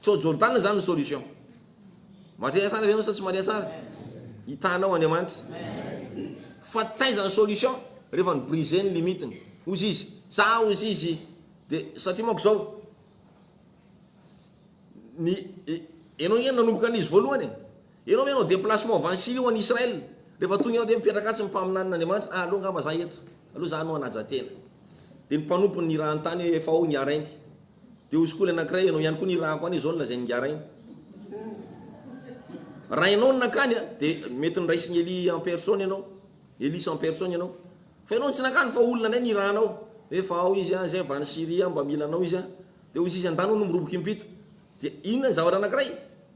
Tsy ao Jordana izany ny solution. Mahare tsara ve anao sa tsy mahare tsara? Hitanao Andriamanitra. Fa taiza ny solution? Rehefa ny brise ny limite ny. Hozy izy, za hozy izy, de satria manko zao, ny, enao nge nanomboka an'izy voalohany e. Enao ve anao déplacement avy any Syrie ho any Israël, rehefa tonga enao de mipetraka atsy ny mpaminanin'Andriamanitra, ah aleo ngamba za eto, aleo za no hanaja tena. De ny mpanompony ny raha ny tany efa ao ny harainy. Dia ho skoly anankiray ianao ihany koa ny rako any izao no lazain'i Ngara iny. Raha ianao no nankany a, dia mety niraisin'i Elie en personne ianao, Elise en personne ianao. Fa ianao no tsy nankany fa olona indray nirahanao, hoe fa ao izy a, izay avy any Syrie a, mba mila anao izy a. Dia hoy izy, andà anao no miroboka impito. Dia inona ny zavatra anankiray?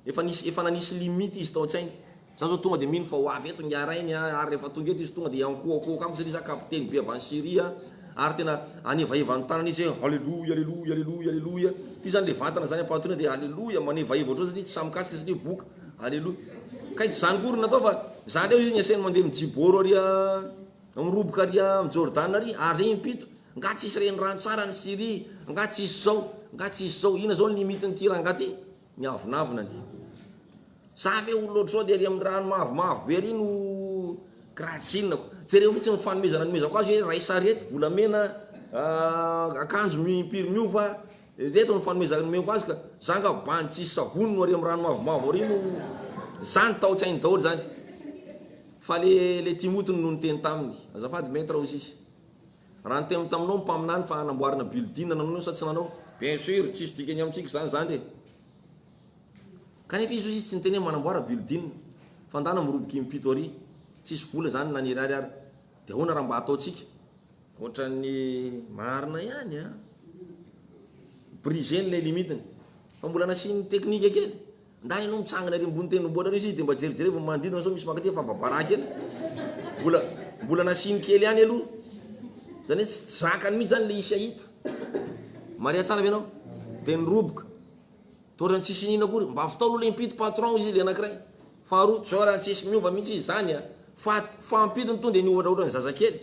Efa nisy efa nanisy limite izy tao an-tsainy. Za zao tonga de mino fa ho avy eto ingahy rainy a, ary rehefa tonga eto izy tonga de hiankohakôhaka amiko satria za kapiteny be avy any Syria ary tena anevaheva ny tanany izy hoe Haleloia Aleloia Aleloia Aleloia ty zany le vatana zany ampahatoriana de Aleloia manevaheva otrao satria tsy sahy mikasika satria boka Aleloia kay tsy zany akory natao fa za ndray izy niasainy mandeha am jibôro ary a miroboka ary a am jordana ary ary zay impito nga tsisy renirano tsara any Syria nga tsisy zao nga tsisy zao ina zao ny limite ny ty rangah ty. Miavonavona anie. Za ve olona ohatr'izao dia ery amin'ny rano mavomavo be ery no kratsinako. Jereo fotsiny ny fanomezana nomezako azy hoe iray sarety volamena, akanjo mi-impiry miova, ireto ny fanomezana nomeko azy ka. Za nga bandy tsisy savony no ary amin'ny rano mavomavo ary no, zany tao an-tsainy daholo zany. Fa le le Timothy no niteny taminy. Azafady Maître hozy izy. Raha niteny taminao ny mpaminany fa hanamboarana building nanao ianao sa tsy nanao? Bien sur, tsisy dikany amintsika zany zandry e! Kanefa izy ozy izy tsy niteny hoe manamboara building fa ndana miroboka impito ary tsisy vola zany na ny iray ariary de ahoana raha mba ataontsika? Ohatran'ny marina ihany an! Brisé ny lay limite-ny fa mbola nasiany technique kely. Ndany anao mitsangana ery ambony tendrombohitra ary izy de mba jerijerevo ny manodidina sao misy mankaty fa babaraha kely mbola mbola nasiany kely ihany aloha zany hoe tsy zakany mihitsy zany le izy hahita maria tsara ve ianao de niroboka to ohatrany tsisy inona akory mba avy tao aloha le impito patron izy le anakiray faharoa tsy ohatrany tsisy miova mihitsy izy zany a fa fahampitony to de ny ohatra ohatra ny zazakely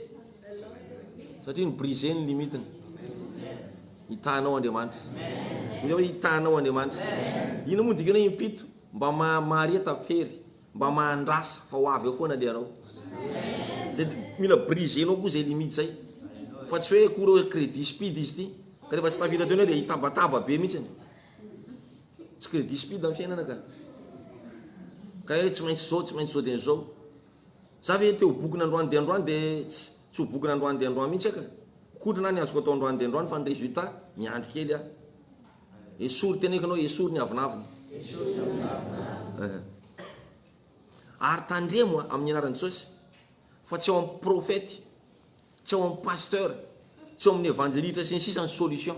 Satria ny brise ny limite ny. Hitanao Andriamanitra. Ino hoe hitanao Andriamanitra? Ino moa dikany hoe impito? Mba mahamareta fery, mba mahandrasa fa ho avy eo foana le anao. Zay mila brisenao koa zay limite zay. Fa tsy hoe akory hoe credit speed izy ity. Ka rehefa tsy tafita teo indray dia hitabataba be mihitsy. Tsy credit speed ny fiainana ka. Ka hoe tsy maintsy zao, tsy maintsy zao dia zao. Za ve te ho bokona androany dia androany dia tsy tsy ho bokona androany dia androany mihitsy aka. Koto na ny azoko atao androany dia androany fa ny resultat miandry kely aho. Esory teneko anao esory ny avonavona. Esory ny avonavona ah. Ary tandremo a amin'ny anaran'i Jesosy fa tsy ao amin'ny profety, tsy ao amin'ny pasteur, tsy ao amin'ny evanjelitra sy ny sisa ny solution.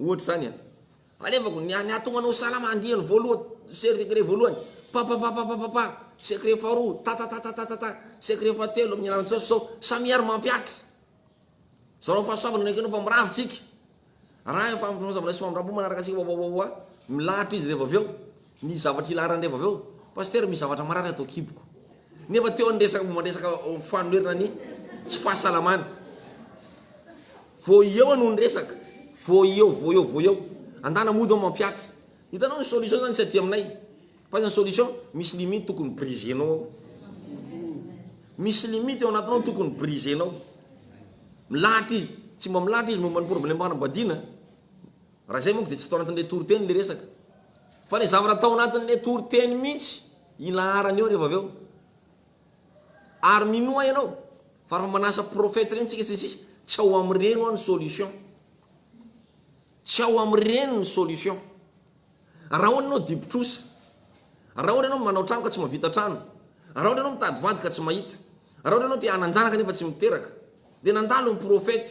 Ohatra izany an. Alevako ny an ato manao salama andiany voalohany ser secret voalohany papapapapapapa secret faharoa tatatatatata secret fahatelo amin'ny alalan'ny sao sao samia ary mampiatra. Zarao fahasoavana ny ankinao fa miravo tsika. Arahin fahasoavana sy famindrampo manaraka antsika wawawawa milahatra izy rehefa avy eo. Ny zavatra ilaharany rehefa avy eo, Pasitera misy zavatra marary ato an-kiboko. Nefa teo ny resaka momba ny resaka fanonerana ny tsy fahasalamany. Vao eo no niresaka. Vao eo, vao eo, vao eo. Andana mody ao mampihatra. Hitanao ny solution zany tsy aty aminay. Fa aza ny solution, misy limite tokony briser-nao ao. Misy limite ao anatinao tokony briser-nao. Milahatra izy. Tsy mba milahatra izy momba ny problème fanambadiana. Raha izay manko dia tsy tao anatin'ilay toriteny ilay resaka. Fa ilay zavatra tao anatin'ilay toriteny mihitsy ilaharana eo rehefa avy eo. Ary minoa ianao fa raha manasa prophète ireny tsika sy ny sisa, tsy ao amin'ireny hoa ny solution. Tsy ao amin'ireny ny solution. Raha ohatra ianao dibo-trosa, raha ohatra ianao manao trano ka tsy mahavita trano, raha ohatra ianao mitady vady ka tsy mahita, raha ohatra ianao te hanan-janaka nefa tsy miteraka, dia nandalo ny prophète.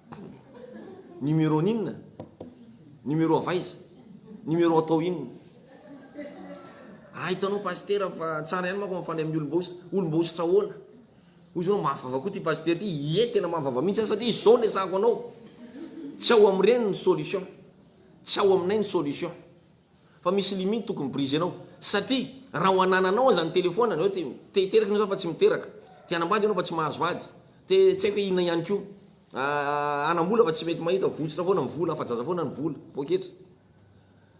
Numéro n'inona? Numéro avy aiza? Numéro atao inona? Ah hitanao Pasitera fa tsara ihany manko mifanay amin'ny olom-baositra. Olom-baositra ahoana? Hoy izy hoe mafy vava koa ity Pasitera ity. Ie tena mafy vava mihitsy aho satria izao no ezahako anao. Tsy ao amin'ireny ny solution. Tsy ao aminay ny solution. Fa misy limite tokony prise enao satria raha ho anananao aza ny telephone anao te te hiteraka enao za fa tsy miteraka, te hanambady enao fa tsy mahazo vady, te tsy haiko hoe inona ihany ko, hanambola fa tsy mety mahita, votsitra foana ny vola, afajaza foana ny vola, poketra.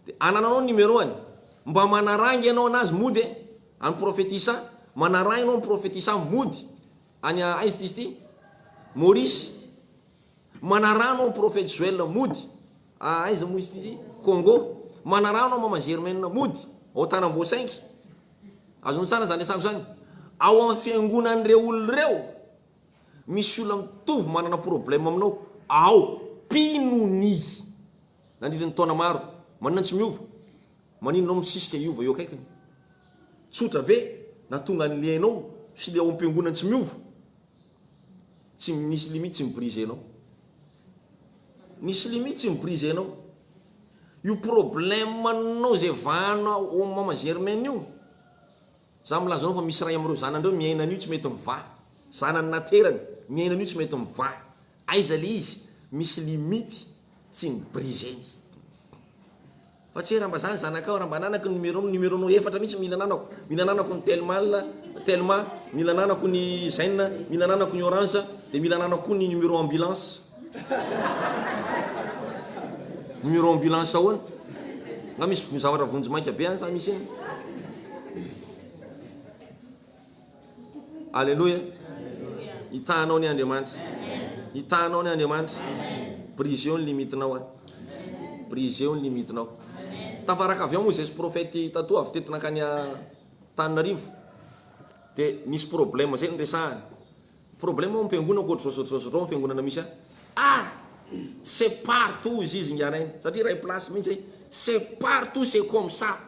De anananao ny numero any, mba manaranga enao anazy mody e, any prophetisa, manaraha enao any prophetisa mody, any aiza ty izy ty? Maurice. Manarano an prophète Joël mody a aiza moa izy ty? Congo. Manarano an maman Germaine mody ao Tanamboasaingy. Azony tsara zany asako zany. Ao am fiangonany reo olona reo misy olona mitovy manana problème aminao ao mpino ny nandritra ny taona maro manina tsy miova manino anao misisika hiova eo akaikiny? Tsotra be natonga anle anao sy le ao am piangonany tsy miova. Tsy misy limite tsy mi-briser anao. Misy limite tsy mi-briser anao. Io problème nao zay vahanao ao am mama Germaine io, za milaza anao fa misy ray amreo zanany reo miaina an'io tsy mety mivaha. Zanany naterany miaina an'io tsy mety mivaha. Aiza le izy? Misy limite tsy mi-briser-ny. Fa tsy hoe raha mba zany zanakao, raha mba ananako ny numéro nao, numéro nao efatra mihitsy mila ananako, mila ananako ny telmal, telma, mila ananako ny zen, mila ananako ny orange, dia mila ananako koa ny numéro ambulance. Numéro ambulance ahoana? Nga misy zavatra vonjy maika be any sa misy iny? Aleloia! Hitahanao ny Andriamanitra. Hitahanao ny Andriamanitra. Brisez-o ny limite-nao an. Brisez-o ny limite-nao. Tafaraka avy ao moa izay prophète tatoa avy teto nankany Antananarivo. Dia nisy problème zay niresahany. Problème ao am-piangonana koa ohatr'izao zao zao zao fiangonana misy ahy. Ah! C'est partout izy izy ingahy Rainy. Satria iray place mihitsy hoe c'est partout c'est comme ça.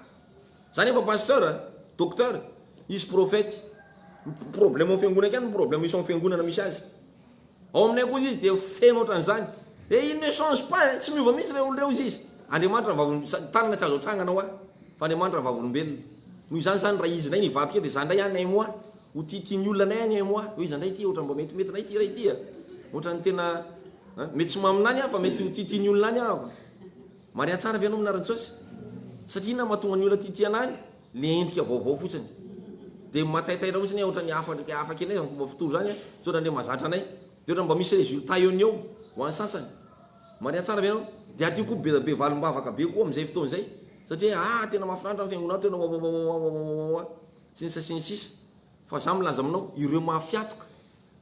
Za nefa pasteur, docteur, izy prophète, ny problème ao fiangonana akany ny problème isan'ny fiangonana misy azy. Ao aminay koa izy dia feno ohatran'izany. Et il ne change pas hein, tsy miova mihitsy reo olo reo izy. Andriamanitra ny vavolombelona, tanana tsy azo atsangana hoa, fa Andriamanitra ny vavolombelona. Noho izany zany raha izy ndray nivadika eo dia za ndray any un mois ho tia tia ny olona anay any un mois, hoe iza ndray ity ohatran'ny mba mety mety anay ity ray ity a, ohatran'ny tena mety tsy maminany aho fa mety ho tia tia ny olona any aho. Mariha tsara ve anao Mna Rantsôsy? Satria inona no mahatonga ny olona tia tia anay? Le endrika vaovao fotsiny. De mataitaitra fotsiny hoe ohatrany hafa ndreky hafa kely zany fomba fitory zany a, tsy ohatrany le mahazatra anay. De ohatrany mba misy résultat eo no eo ho an'ny sasany. Mariha tsara ve anao? De aty koa be be valim-bavaka be koa amin'izay fotoana izay. Satria hoe aa tena mahafinaritra ny fiangonanao tena wawawawawawawawa sy ny sisa sy ny sisa. Fa za milaza aminao ireo mahafiatoka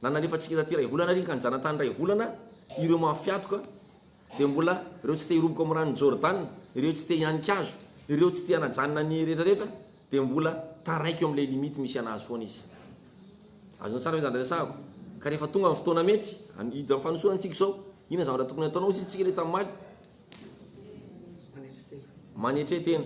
na nalefantsika taty iray volana ary ka nijanatany iray volana ireo mahafiatoka dia mbola ireo tsy te hiroboka ao amin'ny ranon'i Jordana, ireo tsy te hihanika azy, ireo tsy te hanajanona ny rehetrarehetra, dia mbola taraiky eo amin'ilay limite misy an'azy foana izy. Azonao tsara ve izany resahako? Ka rehefa tonga ny fotoana mety, an- hiditra amin'ny fanosorana isika izao, inona zavatra tokony hataonao? Hoy isika ilay tamin'ny maly, Manetry tena.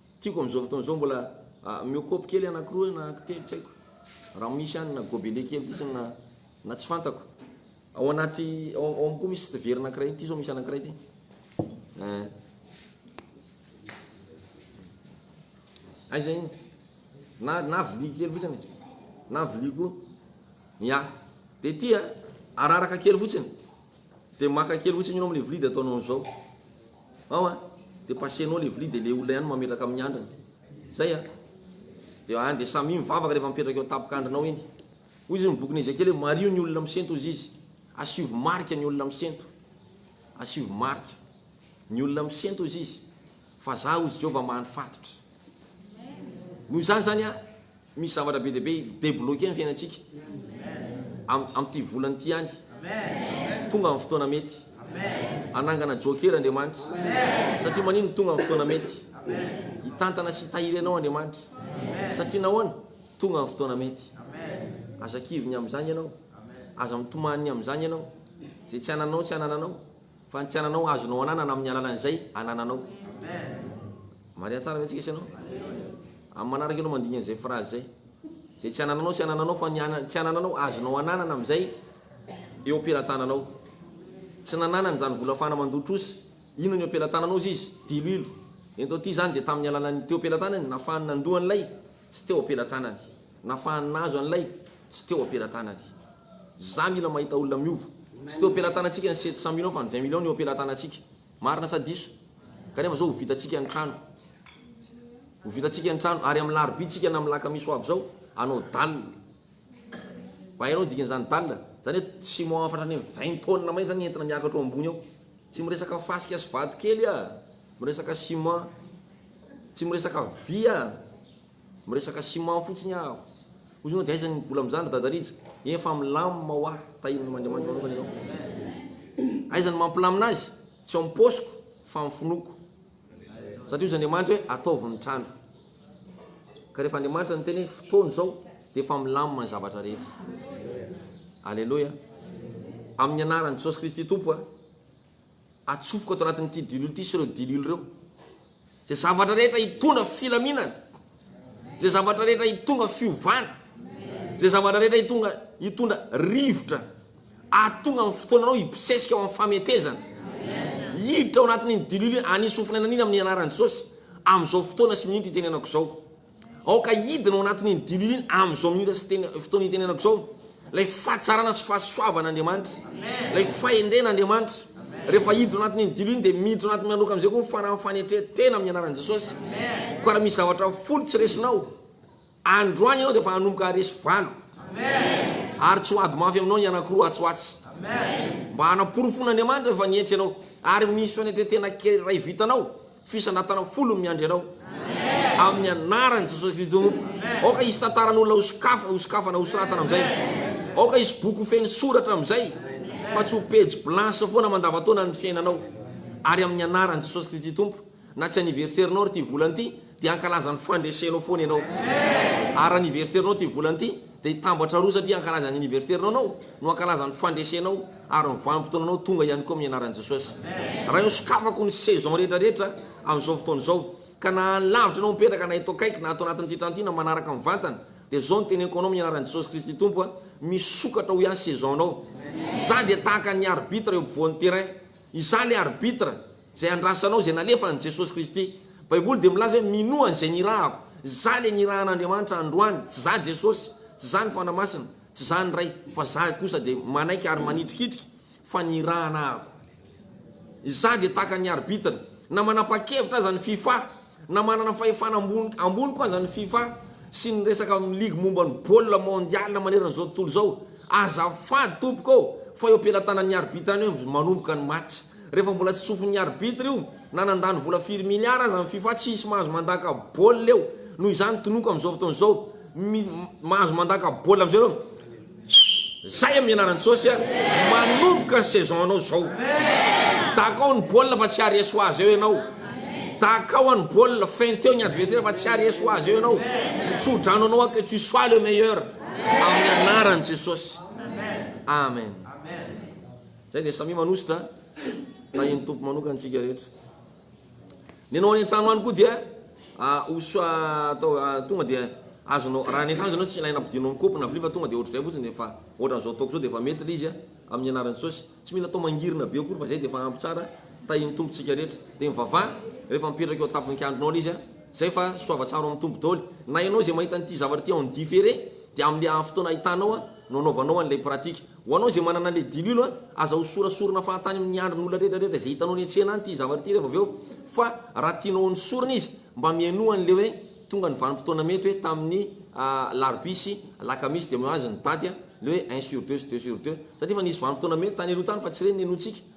Tiako amin'izao fotoana izao mbola miokopy kely anakiroa na telo tsy haiko raha misy any na gobelet kely fotsiny na na tsy fantako. Ao anaty ao ao amiko misy sity very anakiray ity izao misy anakiray ity. Eh. Aiza iny? Na na vilia kely fotsiny. Na vilia koa. Ya. De ity a, araraka kely fotsiny. De maka kely fotsiny ianao amin'ilay vilia de ataonao an'izao. Ao a, de passenao le vilia de le olona ihany mametraka amin'ny andriny. Zay a. De any de samia mivavaka rehefa mipetraka eo an-tapokandrinao iny. Hoy izy ny bokin'i Ezekiela hoe mariho ny olona misento hozy izy. Asivo marika ny olona misento. Asivo marika ny olona misento hozy izy fa za hozy Jehovah maha ny fatotra. Noho izany zany a. Misy zavatra be dia be hi debloquer ny fiainantsika am amin'ity volana ity ihany. Tonga ny fotoana mety. Hanangana jokera Andriamanitra. Satria maninona tonga ny fotoana mety? Hitantana sy hitahiry anao Andriamanitra. Satria nahoana? Tonga ny fotoana mety. Aza kivy ny amin'izany ianao. Aza mitomany ny amin'izany ianao. Izay tsy anananao tsy anananao. Fa ny tsy ananao azonao ananana amin'ny alalan'izay anananao. Marina tsara ve antsika sy ianao? Amin'ny manaraka ianao mandingana izay phrase izay. Izay tsy anananao sy anananao fa ny tsy anananao azonao ananana amin'izay eo am-pelatananao. Tsy nananany izany vola fahana mandoa trosa. Inona ny eo am-pelatananao izy izy? Diloilo. Ento aty izany dia tamin'ny alalan'ny teo am-pelatanany nafahany nandoa an'ilay tsy teo am-pelatanany. Nafahany nahazo an'ilay tsy teo am-pelatanany. Za mila mahita olona miova. Tsy teo am-pelatanantsika ny sept cent millions fa ny vingt millions no eo am-pelatanantsika. Marina sa diso? Kanefa zao ho vitantsika ny trano. Ho vitantsika ny trano ary amin'ny larobia tsika na amin'ny lakamisy ho avy zao hanao dalle. Fa hainao ny dikan'izany dalle? Zany hoe tsy mahafatra ny vingt tonnes mahery zany entina miakatra ao ambony ao. Tsy miresaka fasika sy vato kely ah! Miresaka ciment. Tsy miresaka vy ah! Miresaka ciment fotsiny aho. Hoy izy, Hoy ianao, dia aiza ny vola amin'izany, ry Dada Rija? Eny fa milamina ho ahy, tahian'Andriamanitra manokana ianao. Aiza ny mampilamina azy? Tsy ao amin'ny paosiko, fa amin'ny finoako. Satria hoy izy Andriamanitra hoe, Ataovy ny trano. Ka rehefa Andriamanitra niteny hoe, Fotoana izao, dia efa milamina ny zavatra rehetra. Aleloia! Amin'ny anaran'i Jesosy Kristy Tompo a! atsofoka ato anatin'ity diloilo ity sy ireo diloilo ireo izay zavatra rehetra hitondra filaminana, izay zavatra rehetra hitondra fiovana, izay zavatra rehetra hitondra hitondra rivotra ahatonga amin'ny fotoananao hibosesika ao amin'ny fametezana. Hiditra ao anatin'iny diloilo iny, hanisy ho fanenaniana amin'ny anaran'i Jesosy amin'izao fotoana sy minitra itenenako izao. Aoka hidina ao anatin'iny diloilo iny amin'izao minitra sy teny, fotoana itenenako izao, ilay fahatsarana sy fahasoavan'Andriamanitra, ilay fahendren'Andriamanitra. Rehefa hidina ao anatin'iny diloilo iny, dia miditra ao anatin'ny miandoka amin'izay koa ny fanahin'ny fanetren-tena amin'ny anaran'i Jesosy. Koa raha misy zavatra folo tsy resinao, androany ianao dia efa hanomboka haharesy valo. Ary tsy ho ady mafy aminao ny anankiroa atsy ho atsy. Mba hanaporofoin'Andriamanitra fa nientry ianao, ary misy fanetren-tena kely iray vitanao, Fisanatana am folo no miandry anao amin'ny anaran'i Jesosy Kristy Tompo. Aoka hisy tantaran'olona ho sokafa, ho sokafana, ho soratana amin'izay. Aoka hisy boky ho feno soratra amin'izay, fa tsy ho pejy blanche foana mandavantaona ny fiainanao. Ary amin'ny anaran'i Jesosy Kristy Tompo, na tsy anniversaire-nao ary ity volana ity, dia hankalaza ny fandresenao foana ianao. Ary anniversaire-nao ity volana ity, Dia i Tambatra roa satria hankalaza ny aniverserinao anao no hankalaza ny fandresenao ary ny vanim-potoananao tonga ihany koa amin'ny anaran'i Jesosy. Raha eo sokafako ny saison rehetra rehetra amin'izao fotoana izao ka na any lavitra ianao mipetraka na eto akaiky na ato anatin'ity trano ity na manaraka mivantana dia izao no teneniko anao amin'ny anaran'i Jesosy Kristy Tompo a! Misokatra ho ihany saison anao. Izaho dia tahaka ny arbitre eo ampovoan'ny terrain. Izaho ilay arbitre. Izay andrasanao, izay nalefany, Jesosy Kristy. Baiboly dia milaza hoe, Minoa izay nirahako. Za ilay nirahan'Andriamanitra androany. Tsy za Jesosy, tsy za ny Fanahy Masina, tsy za ny Ray, fa za kosa dia manaiky ary manitrikitrika fa nirahana ako. Izaho dia tahaka ny arbitre. Na manapa-kevitra aza ny fifa Na manana fahefana ambony ambony koa aza ny fifa sy ny resaka amin'ny ligy momba ny baolina mondial manerana izao tontolo izao, azafady tompoko ô fa eo am-pelatanan'ny arbitre any eo manomboka ny match. Rehefa mbola tsy tsofin'ny arbitre io na nandany vola firy milliard aza ny fifa tsy hisy mahazo mandaka baolina eo. Noho izany tonoko amin'izao fotoana izao, mi mahazo mandaka baolina amin'izao ianao. Zay amin'ny anaran'i Jesosy a! Manomboka ny saison anao zao! Dakao ny baolina fa tsy ary esoa azy eo ianao! Dakao ny baolina, fin teo ny adversaire fa tsy ary esoa azy eo ianao! Tsodrano anao aho que tu sois le meilleur amin'ny anaran'i Jesosy! Amen! Zay dia samia manosotra tahin'ny Tompo manokana isika rehetra. Ny anao any an-trano any koa dia hosoa atao tonga dia azonao, raha any an-trano izy anao tsy ilaina ampidinao amin'ny kaopy na vilia fa tonga dia ohatr'izay fotsiny dia efa ohatran'izao ataoko izao dia efa mety ilay izy amin'ny anaran'i Jesosy. Tsy mila atao mangirina be akory fa izay dia efa ampy tsara, tahin'ny Tompo isika rehetra. Dia mivavaha rehefa mipetraka eo an-tapon'ny kianjanao ilay izy, izay fa soava tsara ao amin'ny Tompo daholo. Na ianao izay mahita an'ity zavatra ity en différé dia amin'ilay fotoana ahitanao no anaovanao an'ilay pratique. Ho anao izay manana ilay diluilo a, aza ho sorasorina fahatany amin'ny andrin' olona rehetra rehetra izay hitanao eny an-tsena any ity zavatra ity rehefa avy eo fa raha tianao ho nesorina izy mba mihainoa an'ilay hoe tonga ny vanim-potoana mety hoe tamin'ny alarobia sy alakamisy dia mihoazy ny daty a, ilay hoe un sur deux sy deux sur deux satria efa nisy vanim-potoana mety tany aloha tany fa tsy ireny ny henointsika.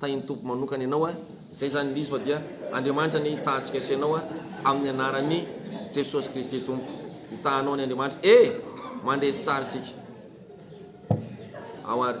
Tahin'ny Tompo manokana ianao a. Izay izany ilay izy fa dia Andriamanitra anie hitahantsika sy ianao a, amin'ny anaran'i Jesosy Kristy Tompo. Hitahanao ny Andriamanitra ee. Mandresy sary tsika ao ary.